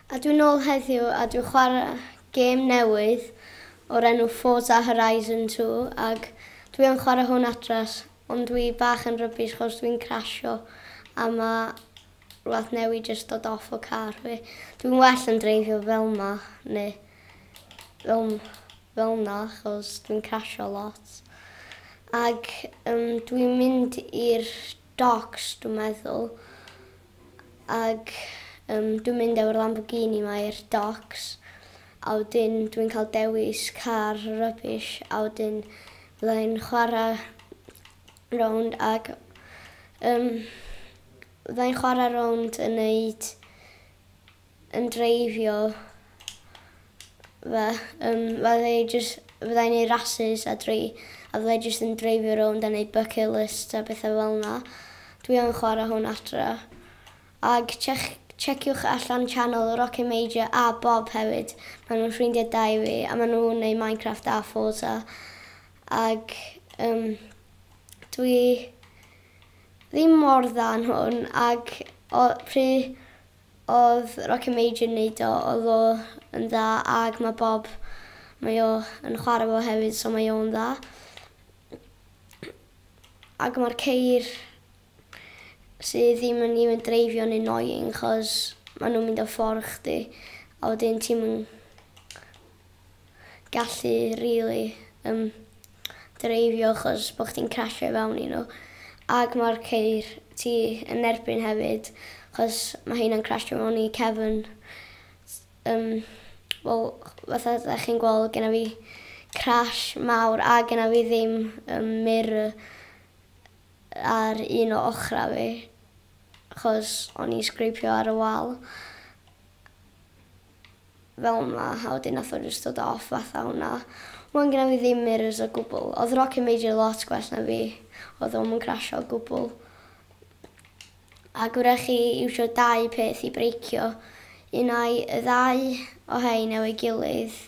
A dwi'n ôl heddiw a dwi'n chwarae gêm newydd o'r enw Forza Horizon 2 ac dwi yn chwarae hwn adras ond dwi bach yn rubbish chos dwi'n crasio a ma rwbath newydd jyst dod off o car fi. Dwi'n well yn dreifio fel ma neu fel, fel na chos dwi'n crasio lot. Ac um, dwi'n mynd i'r docs dwi'n meddwl Ac yym dwi'n mynd efo'r Lamborghini 'ma i'r docs a wedyn dwi'n cael dewis car rubbish a wedyn fydda i'n chwara' rownd ac yym fydda i'n chwara' rownd yn neud yn dreifio fe yym fydda i jys fydda i'n neud rasys a drei- a fydda i jyst yn dreifio rownd a neud bucket lists a betha fel 'na. Dwi yn chwara hwn adra. Ag chec- checiwch allan channel Rocket Major a Bob hefyd ma' nw'n ffrindia da i fi a ma' nw'n neud Minecraft a Forza ag yym dwi ddim mor dda yn hwn ag o- pry Odd Rocket Major yn neud o odd o yn dda ag ma Bob mae o yn chware fo hefyd so mae o'n dda ag ma'r ceir sy ddim yn even dreifio'n annoying chos ma nhw'n mynd o ffordd chdi a wedyn ti'm yn gallu rili yym dreifio achos bo' chdi'n crasio i fewn i n'w ag ma'r ceir ti yn erbyn hefyd achos ma' heina'n crasio mewn i cefn s- yym wel fatha 'dach chi'n gweld genna fi crash mawr a genna fi ddim yym mirror ar un o ochra fi achos o'n i'n sgripio ar y wal. fel ma a wedyn nath o jyst dod off fatha hwnna. Wan gynna fi ddim mirrors o gwbwl. Odd Rocket Major lot gwell na fi. Odd o'm yn crasho o gwbwl. Ag wrach chi iwsio dau peth i breicio. Un ai y ddau o rhein efo'i gilydd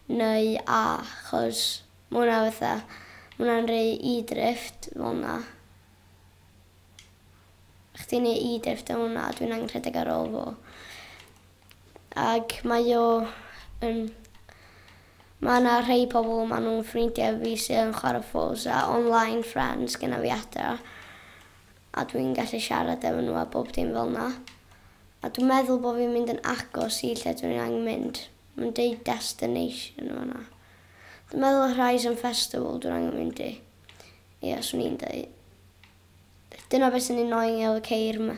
neu a chos ma' hwnna fatha ma' hwnna'n rei e-drift fel na. Chdi'n neu e-drift o hwnna dwi'n angen rhedeg ar ôl fo. Ac mae o yn... Mae 'na rhei pobl, maen nhw'n ffrindiau fi sydd yn chwarae Forza, online friends gyda fi adra, a dwi'n gallu siarad efo nhw a bob dim fel 'na. A dwi'n meddwl bod fi'n mynd yn agos i lle dwi angen mynd. Mae'n deud destination yn fan'na. Dwi'n meddwl Horizon Festival dwi'n angen mynd i. Ia, 'swn i'n deud. Dyna beth sy'n annoying efo ceir ma,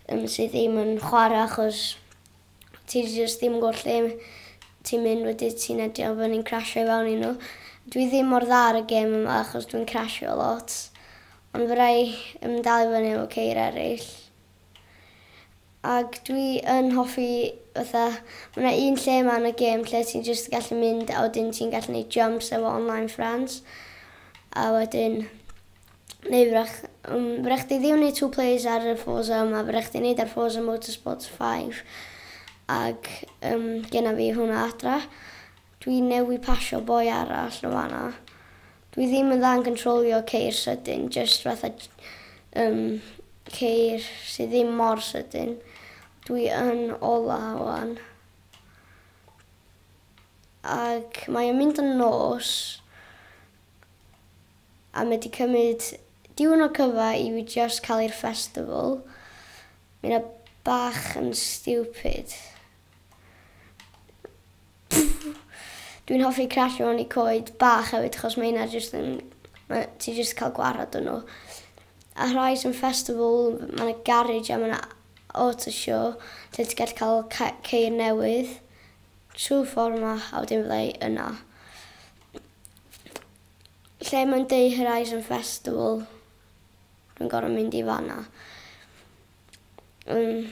um, sydd ddim yn chwarae achos ti jyst ddim yn gwybod lle ti'n mynd wedi ti'n edio bod ni'n crasio i fewn i nhw. Dwi ddim mor dda ar y gêm yma achos dwi'n crasio lot. Ond fe rai um, dal i fyny efo ceir eraill. Ac dwi yn hoffi fatha, mae yna un lle yma yn y gêm lle ti'n jyst gallu mynd a wedyn ti'n gallu gwneud jumps efo online friends. A wedyn neu fyddech, um, fyddech chi ddim wneud two plays ar y Forza yma, fyddech chi wneud ar Forza Motorsport 5. Ac um, gyna fi hwnna adra. Dwi newi pasio boi arall o fanna. Dwi ddim yn dda yn controlio ceir sydyn, just fatha um, ceir sydd ddim mor sydyn. Dwi yn ola o'n. Ac mae'n mynd yn nos, A mae 'di cymryd diwrnod cyfa i fi jyst cael i'r festival. Mae hynna bach yn stupid. Dwi'n hoffi crasio mewn i coed bach hefyd achos mae hynna jyst yn... mae... ti jyst yn cael gwared arnyn nhw. A rhai sy'n festival, mae 'na garej a mae 'na auto show lle ti'n gallu cael ca- ceir newydd trwy'r ffordd 'ma a wedyn fydda i yna. Lle mae'n deu Horizon Festival, dwi'n gorau mynd i fanna. Yn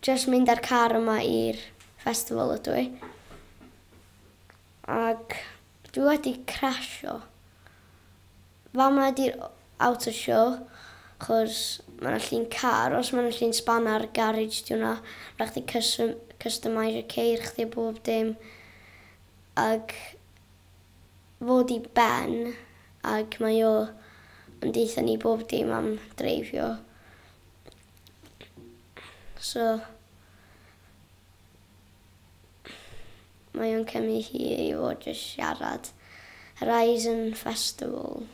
just mynd â'r car yma i'r festival ydw i. Ac dwi wedi crasio. Fama ydy'r outer show, chos mae yna llun car, os mae yna llun spanner, garage di hwnna. Rhaid chdi custom- customise y ceir chdi a bob dim. Ac fod i ben ac mae o yn deutha ni bob dim am dreifio so mae o'n cymryd hir i fod jyst siarad. Horizon Festival.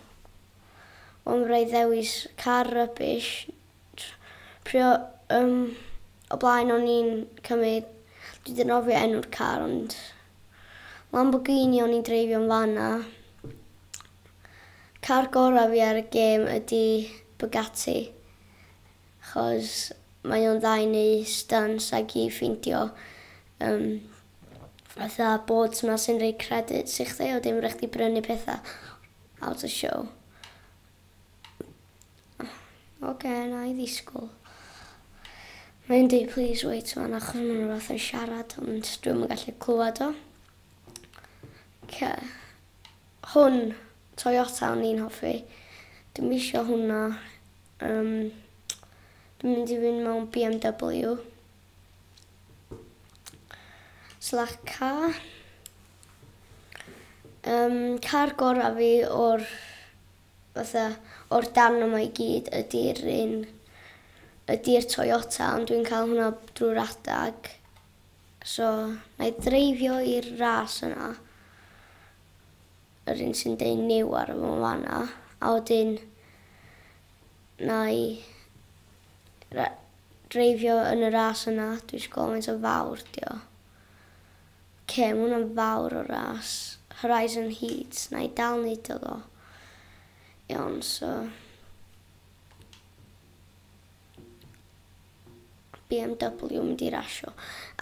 Ond byddai ddewis car rubbish Pryd o yym o blaen o'n i'n cymyd dwi 'di anghofio enw'r car ond Lamborghini o'n i'n dreifio yn fan 'na. Car gora fi ar y gêm ydi Bugatti 'chos mae o'n dda i neu' stunts ag i ffeindio yym fatha boards 'na sy'n roi credits i chdi a wedyn ma' rai' chdi brynu petha out o show. Ok, na i ddisgwyl. Mae'n dweud please wait man achos mae'n rhywbeth yn siarad ond dwi'n yn gallu clywed o. Ok. Hwn, Toyota o'n i'n hoffi. Dwi'n misio hwnna. Um, dwi'n mynd i fynd mewn BMW. Slash car. Um, car gorau fi o'r fatha o'r darn yma i gyd ydi'r un ydi'r Toyota ond dwi'n cael hwnna drwy'r adag so na i dreifio i'r ras yna yr un sy'n deud new ar y fo fanna a wedyn na i dreifio yn y ras yna dwi'n siŵr faint o fawr dio Cer mwn yn fawr o ras Horizon Heats na'i dal neud o ddo iawn so BMW mynd i rasio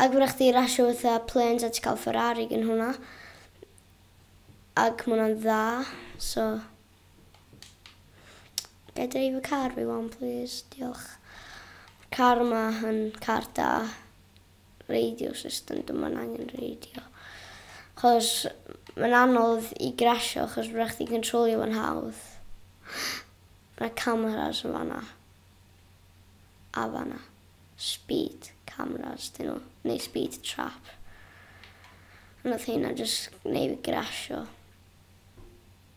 ac wrach chdi rasio fatha planes a ti cael Ferrari gyn hwnna ac mwna'n dda so gael dreif y car fi wan plîs diolch car yma yn car da radio system dim ond angen radio chos mae'n anodd i grasio chos mae'n rhaid i controlio fo'n hawdd mae cameras yn fanna a fanna speed cameras dyn nhw neu speed trap a nath hynna jyst gwneud fi grasio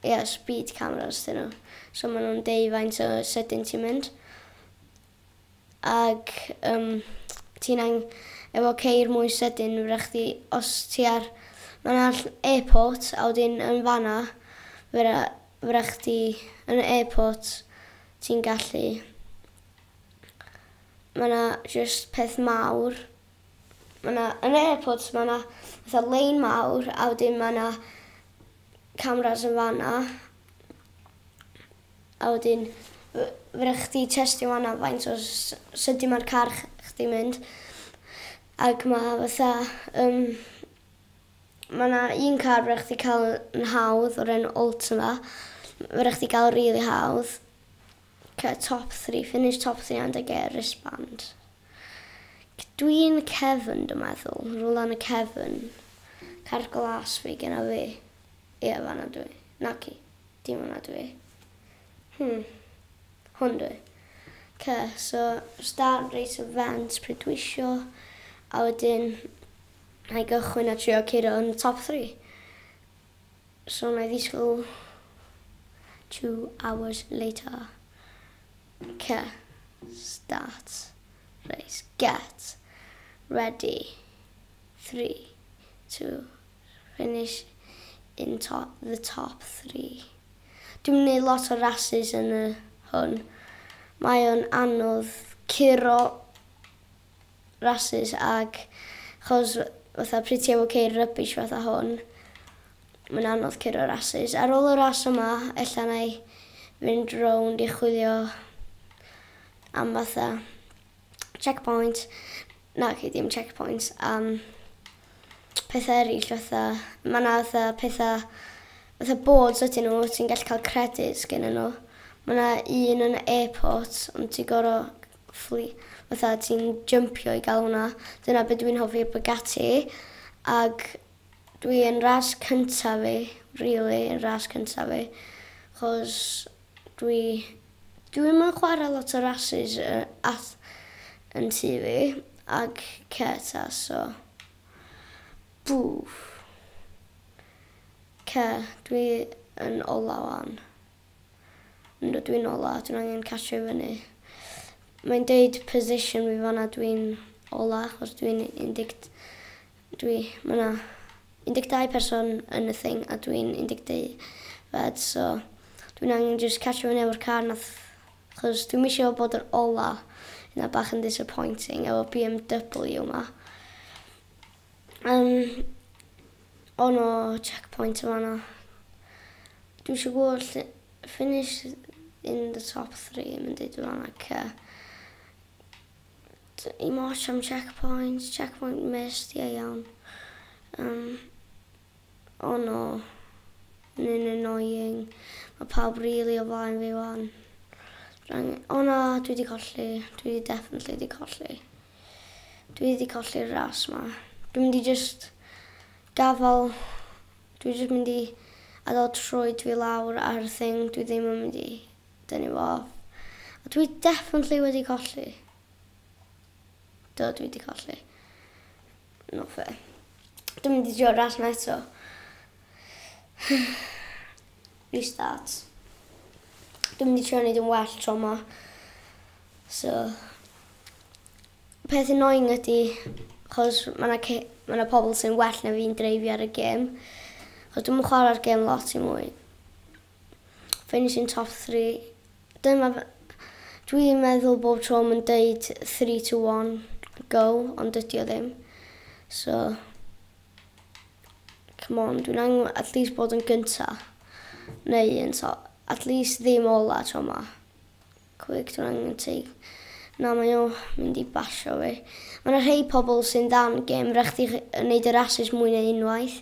ie speed cameras dyn nhw so maen nhw'n deud faint o sydyn ti'n mynd ag yym ti'n ang- efo ceir mwy sydyn fedra chdi os ti ar ma' na ll- airport a wedyn yn fanna fedra fedra chdi yn y airport ti'n gallu ma' na jyst peth mawr ma' na yn yr airport ma' na fatha lein mawr a wedyn ma' na cameras yn fanna A wedyn fedrwch chdi testio fan'na faint o sydyn ma'r car chdi'n mynd ac ma' fatha yym ma' 'na un car fedrwch chdi ca'l yn hawdd o'r enw Ultima fedrwch chdi ga'l rili hawdd cy- top three finish top three and I get a wristband. C- dwi'n cefn dwi meddwl rwla yn y cefn. Car glas fi genna fi. Ie fan'na dw i. Naci. Dim hwnna dw i. Hmm. Hwn dw i. Oce, so start reit o fent pryd dwi isio, a wedyn na i gychwyn a trio curo yn y top three. So na i ddisgwyl two hours later. Oce, start reit, get ready, three, two, finish in top the top three. Dwi'm yn neud lot o rasus yn y hwn. Mae o'n anodd curo rasus ag chos fatha pryd ti efo ceir rubbish fatha hwn mae'n anodd curo rasus. Ar ôl y ras yma ella na i fynd rownd i chwilio am fatha checkpoint Naci dim checkpoints am petha eraill fatha ma' 'na fatha petha fatha boards ydyn nhw ti'n gallu cael credit gennyn nhw. Ma' 'na un yn y airport ond ti gor'o' ffli- fatha ti'n jympio i ga'l hwnna. Dyna be' dwi'n hoffi am Bugatti ag dwi yn ras cynta' fi rili yn ras cynta' fi 'chos Dwi dwi'm yn chware lot o rasys yy ath yn tŷ fi ag cêt a so bŵff. Oce dwi yn ola ŵan. Yndw dwi'n ola dwi'n angen catsio i fyny. Mae'n deud position fi fan 'na dwi'n ola achos dwi'n un deg Dwi, ma na 12 person yn y thing a dwi'n 12fed so dwi'n angen jyst catsio fyny efo'r car nath chos dwi'm isio bod yr ola yna bach yn disappointing efo BMW ma. Yym o no checkpoint yn fanna. Dwi isio gwbod lle finish in the top three ma'n deud yn fanna oce. Dim ots am checkpoint, checkpoint missed, ie iawn. Yym, o no. Mae'n annoying. Mae pawb rili o flaen fi wan. O na, dwi wedi colli. Dwi wedi definitely wedi colli. Dwi wedi colli'r ras ma. Dwi'n mynd i just gafal. Dwi just mynd i adael troed fi lawr ar thing. Dwi ddim yn mynd i Dyn ni'n fawr. A dwi definitely wedi colli. Do, dwi wedi colli. Not fair. Dwi'n mynd i drio ras na eto. Restart. Dwi'n mynd i trio wneud yn well tro ma. So, peth annoying ydy, chos mae yna ce- ma' 'na pobl sy'n well na fi'n dreifio ar y gêm. Chos dwi'm yn chwarae'r gêm lot i mwy. Finishing top three. Dyma fy... Dwi'n meddwl bob tro mae'n deud three to one go ond dydy o ddim. So come on, dwi'n angen at least bod yn gynta neu yn so, at least ddim ola tro ma. Cwig, dwi'n angen ti. Na, mae o mynd i basio fi. Mae yna rhai pobl sy'n dan gêm, rhaid chdi wneud yr asus mwy neu unwaith.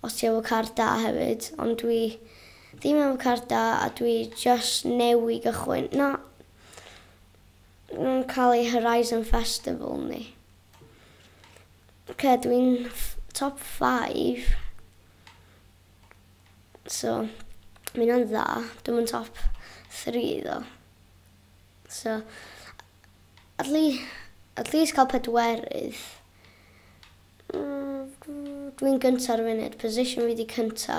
Os ti efo car da hefyd, ond dwi ddim efo car da a dwi jyst newy gychwyn na yn ca'l ei Horizon Festival ni. Oce dwi'n top five so ma' ynna'n dda, dwi'm yn top three ddo. So at lea- at least ca'l pedwerydd Dwi'n gynta ar y funud. Position fi 'di cynta.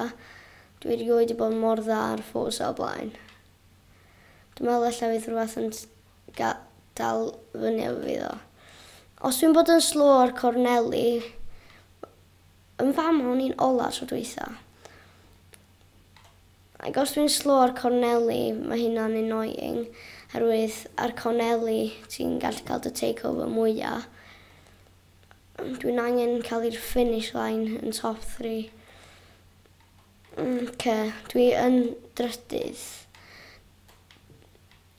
Dwi erioed 'di bod mor dda ar Forza o blaen. Dwi'n meddwl ella fydd rhywbeth yn ga- dal fyny efo fi ddo. Os dwi'n bod yn slow ar corneli, yn fama o'n i'n ola tro dwytha. Ac os dwi'n slow ar corneli, mae hynna'n annoying. Herwydd ar corneli, ti'n gallu cael dy takeover mwyaf. Dwi'n angen cael i'r finish line yn top three. Ok, dwi yn drydydd.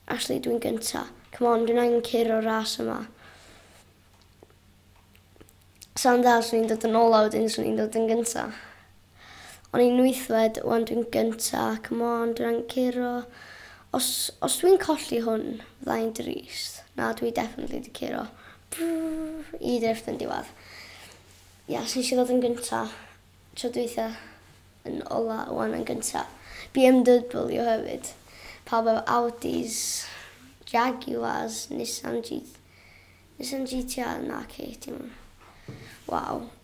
Actually, dwi'n gynta. Come on, dwi'n angen cur o'r ras yma. Sa'n dda, swn i'n dod yn olaf wedyn, swn i'n dod yn gynta. O'n i'n wythfed, wan dwi'n gynta ac mond yn curo. Os, os dwi'n colli hwn, fydda i'n drist. Na, dwi definitely di curo. Brrr, i drift yn diwedd. Ia, yes, nes i ddod yn gynta. Tro dweitha yn ola, wan yn gynta. BMW hefyd. Pawb efo Audis, Jaguars, Nissan G... Nissan GTA, na ci, dim... Waw.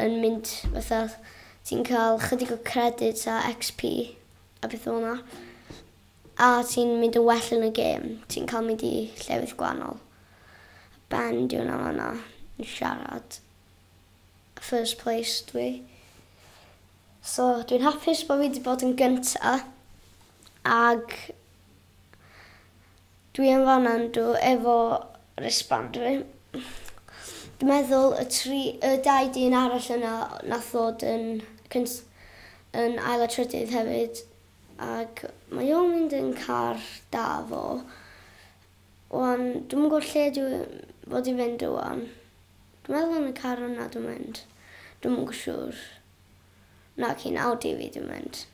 yn mynd fatha ti'n cael chydig o credit a XP a beth fel yna. A ti'n mynd yn well yn y gêm, ti'n cael mynd i llefydd gwahanol. Ben diw na fanna yn siarad. First place dwi. So dwi'n hapus bod fi wedi bod yn gynta ag Dwi yn fanna yndw efo wristband fi. Dwi meddwl y tri y dau dyn arall yna nath ddod yn cynt- yn ail a trydydd hefyd ag mae o'n mynd yn car da fo. Wan dwi'm yn gwbo lle dwi fod i fynd wan. Dwi meddwl yn y car yna dwi'n mynd. Dwi'm yn siŵr. Naci yn Audi fi dwi'n mynd.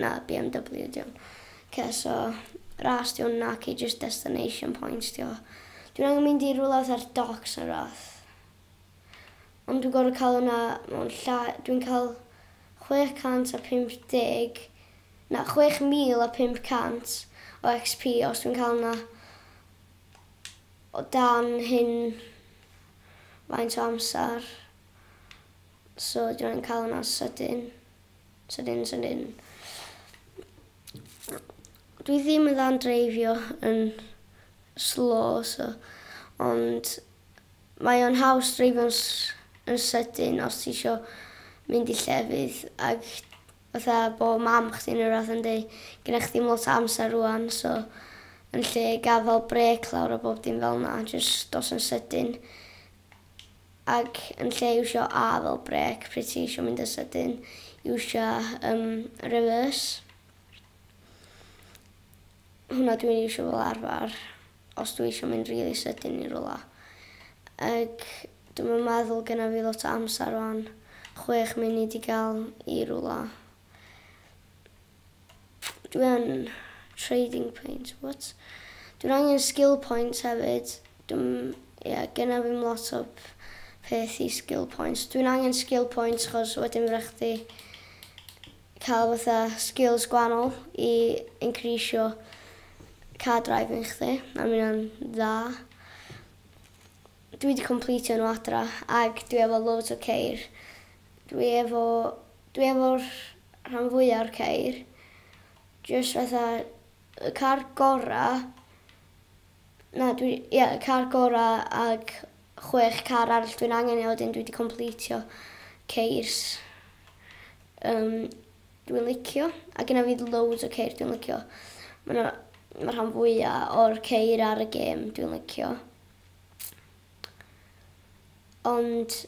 Na BMW ydy hwn. Oce so ras ydy hwn naci jyst destination points ydy o. Dwi'n angen mynd i rywle fatha'r docks neu rywbeth. Ond dwi'n gorfod cael hwnna mewn llai... Dwi'n cael 650... Na 6500 o XP os dwi'n cael hwnna o dan hyn faint o amser. So dwi'n angen cael hwnna'n sydyn. Sydyn, sydyn. Dwi ddim yn dda'n dreifio yn slow, so, ond mae o'n haws dreifio'n yn sydyn os ti isio mynd i llefydd ac fatha bo mam chdi neu rhywbeth yn dweud gyda chdi ddim lot o amser rwan so yn lle gafael brec lawr a bob dim fel yna jyst dos yn sydyn Ac yn lle iwsio A fel brêc pryd ti isio mynd yn sydyn, iwsio um, reverse. Hwna dwi'n iwsio fel arfer os dwi eisiau mynd really sydyn i rola. Ac dwi'n meddwl gyda fi lot o amser o'n chwech munud i gael i rola. Dwi yn trading points, what? Dwi'n angen skill points hefyd. Dwi'm, ie, genna fi'm lot o peth i skill points. Dwi'n angen skill points chos wedyn fydda chdi cael fatha skills gwahanol i increasio car driving chdi. A mae hynna'n dda. Dwi wedi completio nhw adra ac dwi efo loads o ceir Dwi efo dwi efo rhan fwya o'r ceir jyst fatha y car gora na dwi ia y car gora ag chwech car arall dwi'n angen i a wedyn dwi di completio ceirs yym dwi'n licio a gynna fi loads o ceir dwi'n licio ma' na ma' rhan fwya o'r ceir ar y gêm dwi'n licio ond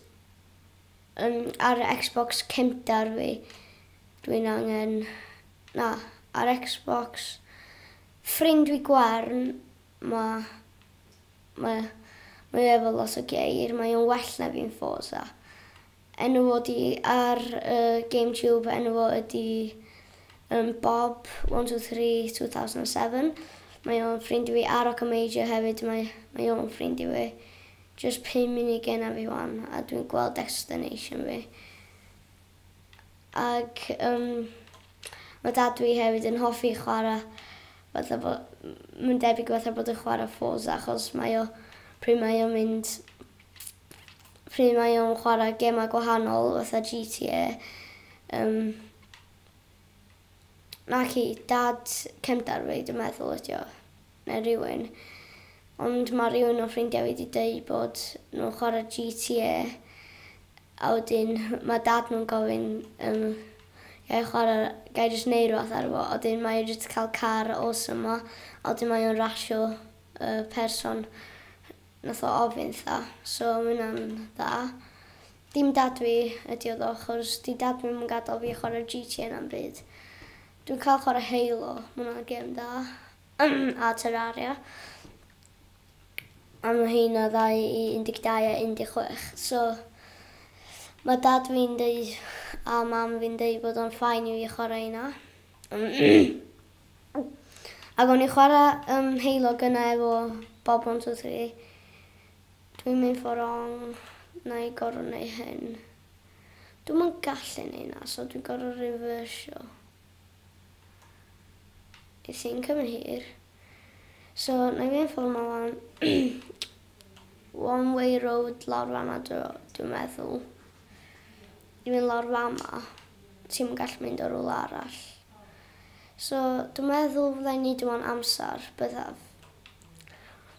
Yn ar Xbox cynta fi dwi'n angen na ar Xbox ffrind fi gwarn ma ma mae o efo lot o geir mae o'n well na fi'n forza enw fo di ar yy game tube enw fo ydi yym bob one two three two thousand and seven mae o'n ffrind i fi ar oca major hefyd mae mae o'n ffrind i fi. Jyst pum munud genna fi wan a dwi'n gweld destination fi. Ag yym ma' dad dwi hefyd yn hoffi chwara' fatha bo- m- ma'n debyg fatha bod yn chwara' Forza achos mae o pryd mae o'n mynd pryd mae o'n chwara' gema gwahanol fatha GTA yym Mae hi, dad cefndar fi dwi'n meddwl ydi o, neu rywun. Ond mae rhywun o ffrindiau fi 'di deud bod nhw'n chwarae GTA a wedyn mae dad nhw'n gofyn um, ga i chwarae, ga i jyst neud rhywbeth ar fo, a wedyn mae e jyst cael car awesome ma, a wedyn mae o'n rasio uh, person nath o ofyn tha, so mae hwnna'n dda. Dim dad fi ydi o ddo chos di dad fi ddim yn gadal fi chwarae GTA na'm byd. Dwi'n cael chwarae Halo, ma' hwnna'n gêm dda, a Terraria. A ma' heina ddau i 12 a 16. So ma' dad fi'n deud a mam fi'n deud bod o'n fine i fi chwarae heina. Ac o'n i'n chwarae yym Halo gynnau efo Bob One Two Three Dwi'n mynd for wrong, na i gorfod neu hyn. Dwi'm yn gallu neu na so dwi'n gorfod reversio. I think I'm here. So na i mynd for ma lan. One way road lawr fanna dwi'n meddwl. I mynd lawr fanna. Ti'n gallu mynd o rhywle arall. So dwi'n meddwl fydda i'n neud yma'n amser byddaf.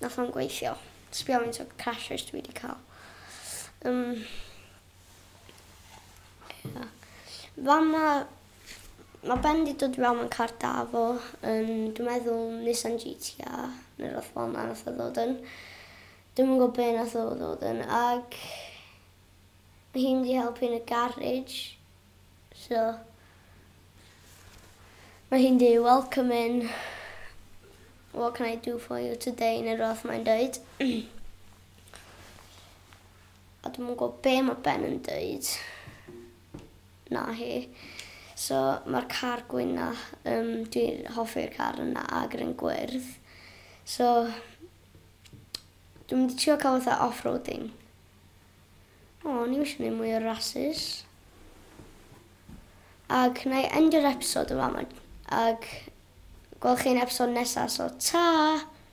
Nath o'm gweithio. Sbia faint o crashes dwi 'di ca'l. Yym. Ia. Fama ma' Ben 'di dod i fewn mewn car da fo yn dwi meddwl Nissan GTR ne' rwbath fel 'na nath o ddod yn. Dwi'm yn gwbo be' nath o ddod yn ag ma' hi'n mynd i helpu yn y garej. So mae hi'n deud welcome in what can I do for you today neu rhywbeth mae'n deud. a dwi'n gwybod be mae Ben yn deud na hi. So mae'r car gwyn na, um, dwi'n hoffi'r car yna ag yr un gwyrdd. So dwi'n mynd i trio cael fatha off-roading. O, ni eisiau gwneud mwy o rhasys. Ac na i endio'r episod yn fama. Ac gweld chi'n episod nesaf, so ta!